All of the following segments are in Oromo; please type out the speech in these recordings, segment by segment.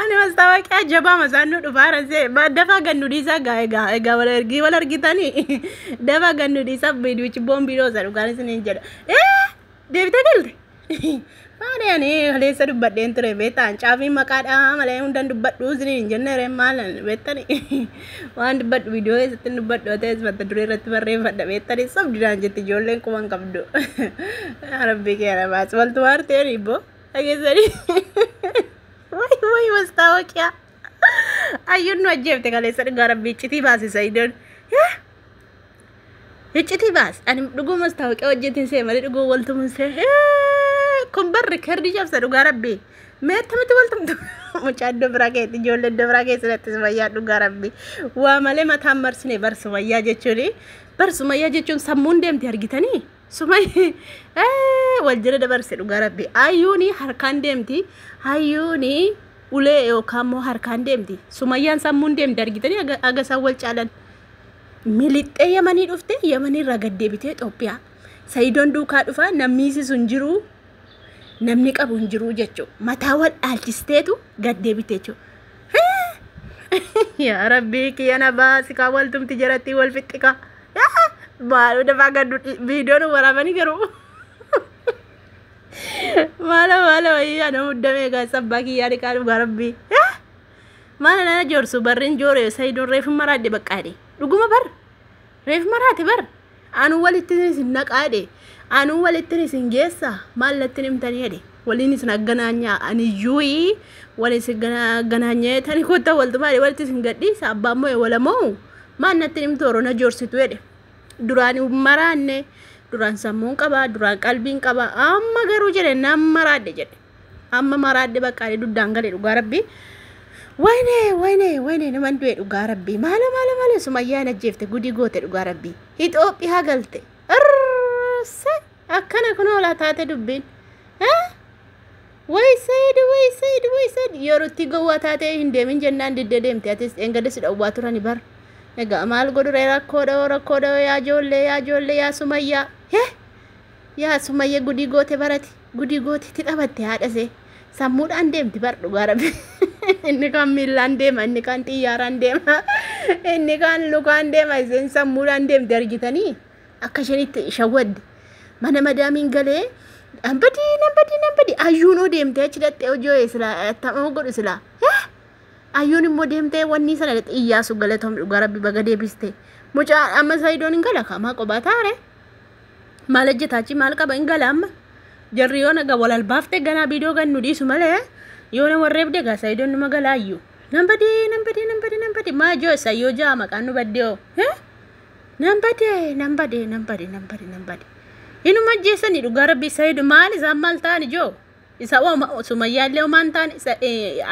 Ani mastaawaqiyaa jabaa masaan nu dhufaara see dafaa gad nu dhiisaa gaa egaa egaa wal ergii wal argitanii dafaa gad nu dhiisaa biidiichi boombiidoo isa dhugaan isiniin jedha. Ee deebitee galte. Maali ani haleessa dubbadheen ture beektaa caafiin maqaadhaa malee hundaan dubbadhu isiniin jenne ree maalan beektani waan dubbadhu viidiyoo keessatti dubbadhu ta'es mata duree irratti barreeffadha beektani sobdidaan jetti ijoolleen quban qabdu. Rabbii kee na baas waltu waartee dhiibboo. dhageessanii wayi wayi mastaawoqiyaa ayyuun nu ajjeefte kaleessa dhugaa rabbi iccitii baasi sayidoon iccitii baasi ani dhuguu mastaawoqiyaa hojjetiin see malee dhuguu waltumun see kun barri kerdi cabsa dhugaa rabbi mee akkamitti waltumtu mucaa iddoo biraa keetti ijoollee iddoo biraa keessa natti sumayyaa dhugaa rabbi waa malee mataan marsine bar sumayyaa jechuun bar sumayyaa jechuun sammuun deemti argitanii Sumay wal jala dabarse dhugaa rabbi. Ayyuuni harkaan deemti. Ayyuuni ulee yookaan immoo harkaan deemti. Sumayyaan sammuun deemti argitanii aga aga isaan wal caalan. Milixxee yamanii dhufte yamanii irraa gad deebitee Itoophiyaa. Sayidoon duukaa dhufaa namni isisu hin jiru namni qabu hin jiru jechuudha. Mataa wal dhaalchisteetu gad deebite jechuudha. yaa rabbii kiyya na baasi kaa waltumti jarattii wal fixxi kaa maaloo dafaa gaddu viidiyoon waraabanii garuu maala maala wayii ana muddamee gaa sabbaa kiyyaa dhiqaa dhugaa rabbii maala nana joorsu barrin joore sayidoon reefin maraadde baqqaadhe dhuguma bar Reef maraate bar anuu walittin isin naqaa jedhe anuu walittin isin geessa maal nattin himtanii jedhe waliin isin agganaanyaa aniyyuuyi wal isin agganaanyee tani kotta waltumaa jedhe walitti isin gadhiisa abbaan mo'e walamoo maal nattin himtu orona joorsitu jedhe duraan maraanne duraan sammuun qaba duraan qalbiin qaba amma garuu jedhe nan maraadhe jedhe Amma maraadde baqqaa ani duddaan gale dhugaa rabbii. Wayne wayne wayne naman du'e dhugaa rabbii. Maala maala maala sumayyaa hin ajjeefte gudii goote dhugaa rabbii. Itoophiyaa galte. Irrse akkana kunoo laa taate dubbiin. Eh? Way said way said way said yerootti gowwaa taatee hin deemin jennaan diddee deemte atis dheengadda si dhowwaa turani bar. Egaa maal godhure rakkoodha hoo rakkoodha hoo yaa ijoollee yaa ijoollee yaa sumayyaa. Hee? Yaa sumayya gudii goote barati. Gudi gooti itti taphatte haadha see. Sammuudhaan deemti bar dhugaa rabbi. inni kaan miillaan deema, inni kaan xiyyaaraan deema, inni kaan lukaan deema, isheen sammuudhaan deemti argitanii akka isheen itti shawwadde. Mana madaamiin galee nan badii nan badii nan badii ayyuun oo deemtee achi dhaxxee hojii hoo'ee silaa attama godhu silaa. Eh? Ayyuun immoo deemtee wanni sana dhaxxee iyyaasu galatoom dhugaa rabbi baga deebiste. Mucaa amma sayidoon hin gala kaamaa qobaa taare. Maal hojjeta achi maal qaba hin gala amma. Jarri yoo naga wal albaafte ganaa biidoo gannu dhiisu malee yoo na warreebde gaa sayidoon numa galaayyu. Nan badee nan badee nan badee nan badee maa joo isa yoo jaa maqaan nu baddee hoo. Eh? Nan badee nan badee nan badee nan badee nan badee. Inuma ajjeessanii dhugaa rabbii sayido maal isaan maal ta'an ijoo. Isa hoo sumayyaa illee homaa hin taane isa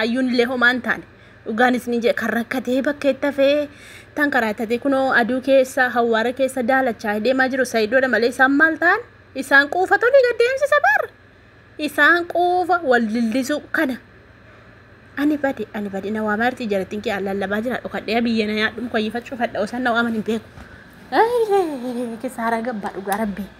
ayyuun illee homaa hin taane dhugaan isni jee kan rakkatee bakkeetti hafee tan karaattatee kunoo aduu keessa hawwaara keessa daalachaa deemaa jiru sayidoodha malee isaan maal ta'an isaan quufa tolii gad deemsisa bar isaan quufa wal dildisuu kana ani bade ani bade na waamaa irti jarattiin kee an lallabaa jira dhokadhee biyya na yaadhu mukayyifachuu fadha osan na waaman hin beeku kisaaraa gabbaa dhugaa rabbii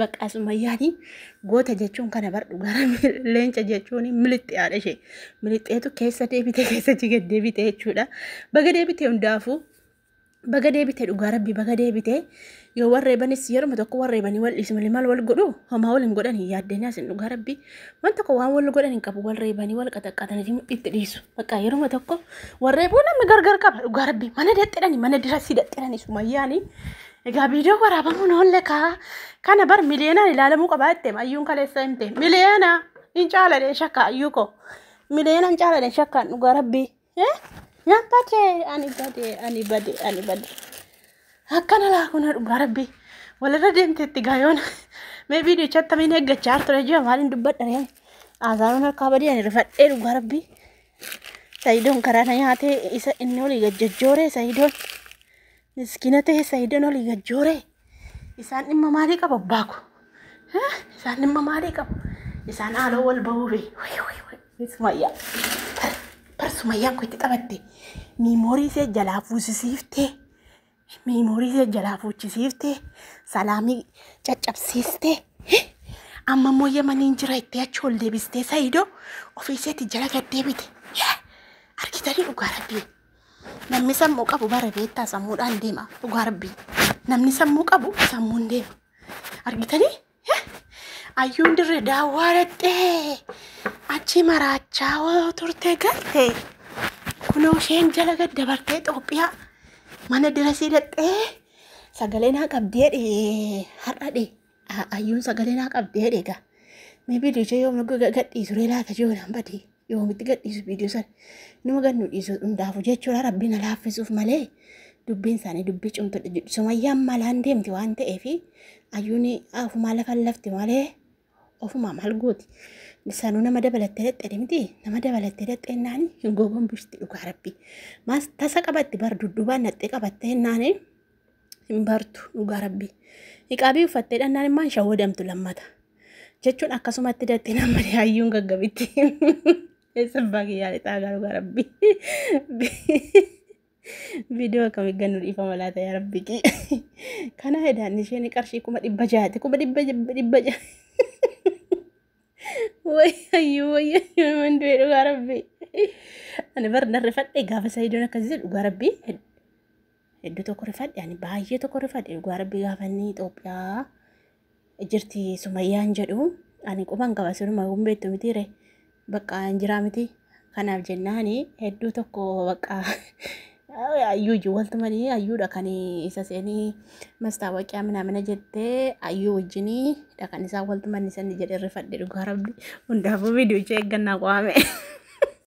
Baqqaa Sumayyaati goota jechuun kana bar dhugaa leenca jechuun milixiyaadha ishee. Milixeetu keessa deebite keessa jigad deebite jechuudha. Baga deebite hundaafuu baga deebite dhugaa rabbi baga deebite yoo warreebanis yeruma tokko warreebanii wal dhiisu malee maal wal godhu homaa wal hin godhan hin yaaddeen yaasin dhugaa rabbi waan tokko waan wal godhan hin qabu warreebanii wal qaxaqqaatanii itti dhiisu bakka yeruma tokko warreebuu namni gargar qaba dhugaa rabbi mana daxxidhani mana dirasii daxxidhani sumayyaani Egaa viidiyoo waraabamuun oolle kaa kana bar miliyoonaan ilaalamuu qabaa jette ayyuun kaleessa himte miliyoona hin caaladhe shakka ayyuu koo miliyoona hin caaladhe shakkaan dhugaa rabbii naan bade ani bade ani bade ani bade akkana laakuna dhugaa rabbii walirra deemteetti gaayoona mee viidiyoo chattamiin eeggachaa ture ji'a maaliin dubbadha reen aazaanuun harkaa badii ani rifadhee dhugaa rabbii sayidoon karaa na nyaatee isa inni olii gajjajjooree sayidoon Miskina ta'e Sa'idoon olii gad jooree. Isaan dhimma maalii qaba abbaa ko? Hah? Isaan dhimma maalii qaba? Isaan haaloo wal bahuu bee. Wayi wayi wayi. Ni Sumayyaa. Bar bar Sumayyaan ko itti taphatte. Miimoorii isee jalaa fuusisiiftee. Miimoorii isee jalaa fuuchisiiftee. Salaamii caccabsiistee. Hih? Amma immoo yamaniin jira itti achi ol deebistee Sa'idoo ofii isheetti jala gad deebite. Hih? Argitanii dhugaa rabbii. Namni sammuu qabu bara beektaa sammuudhaan deema. Dhugaa rabbii. Namni sammuu qabu sammuun deema. Argitanii? Eh, Ayyuun dirree daawwaa dhaqxee achi maraachaa hoo turte galte. Kunoo isheen jala gad dabartee Itoophiyaa mana dirasii dhaqxee sagalee naa qabdee dhee har'a dhee. Ayyuun sagalee naa qabdee dheega. Mee viidiyoo ishee yoom gadhiisu ree laata jiru naan badii. Yoomitti gadhiisu viidiyoo sana. Numa gad nu dhiisu hundaafu jechuudha rabbi na laaffisuuf malee dubbiin isaanii dubbii cimtudha jedhu. Sumayyaan malaan deemti waan ta'eef ayyuun ofumaa lafa lafti malee ofumaa maal gooti. Sanuu nama dabalattee dadhee miti nama dabalattee dadhee naani hin gogombifti dhugaa rabbi. Maas tasa qabatti bar dudduubaan naxxee qabattee naani. hin bartu dhugaa rabbii niqaabii uffattee dhannaan immoo hin shawwadamtu lammata jechuun akkasumatti dattee namni hayyuun gaggabitti eessa abbaa kiyyaa lixaa garuu gaa rabbii viidiyoo akkamii gannu dhiifama laata yaa rabbii kii kana hedaan isheen qarshii kuma dhibba jaati kuma dhibba dhibba jaati wayyayyuu wayyayyuu man du'e dhugaa rabbii ani bar narrifadhe gaafa sayidoon akkasii dhugaa rabbii Hedduu tokko rifadhe ani baay'ee tokko rifadhe dhugaa rabbi gaafa inni Itoophiyaa jirti sumayyaan jedhu ani quban qaba siruma kun beektu mitiire bakka hin jiraa miti kanaaf jennaani hedduu tokko bakka ayyuu ijji waltumanii ayyuudha kan isa seenii mastaawaqiyaa minaamina jettee ayyuu wajjinii dhaqan isaa waltumanni sanni jedhe rifadhe dhugaa rabbi hundaafuu viidiyoo ishee eeggannaa qo'ame.